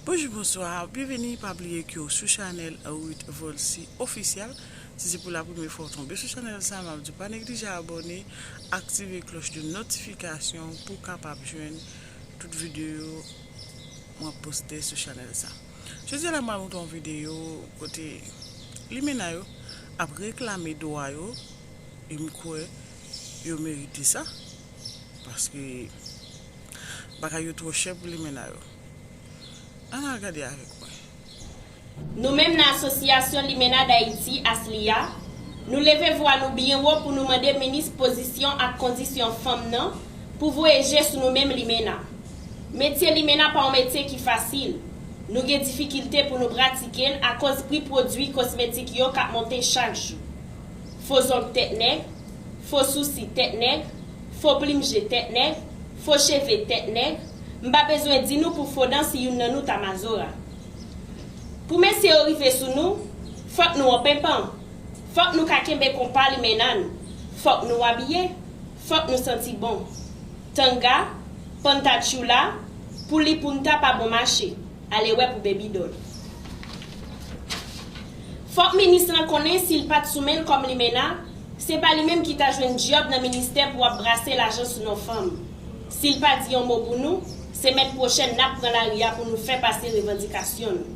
Bonjou bonswa byenveni pa bliye ke w sou chanèl Ruth Volcy official si se pou la premye fwa w tonbe sou chanèl sa map diw pa neglije abòne aktive klòch de notifikasyon pou w kapab jwenn tout videyo mwen poste sou chanèl sa jodi a la mwen montre w yon videyo kote limena yo ap reklame dwa yo e m kwè yo merite sa paske. Bagay yo twò chè pou limena yo. Ann al gade avèk mwen. Nou menm nan Asosyasyon Limena Dayiti, ASLIH, nou leve vwa nou byen wo pou nou mande minis pozisyon ak kondisyon fanm nan pou voye je sou nou menm limena. Metye limena pa yon metye ki fasil. Nou gen difikilte pou nou pratike l akoz pri pwodui kosmetik yo k ap monte chak jou. Fo zong tèt nèg. Fo sousi tèt nèg, fo plim je tèt nèg, fo cheve tèt nèg, m pa bezwen di nou pou fo dan si youn nan nou ta mazora. Pou mesye yo rive sou nou, fòk nou an penpan, fòk nou ka kenbe konpa limenna n, fòk nou abiye, fòk nou santi bon. Tanga, panta tchoula, pou li pounta pa bon mache. Ale wè pou baby doll. Fòk minis lan konnen sil pat sou menl kòm limena se pa li menm ki ta jwenn dyòb nan ministè pou ap brase lajan sou non fanm sil pa di yon mo pou nou semèn pwochèn nap pran lari a pou nou fè pase revandikasyon nou.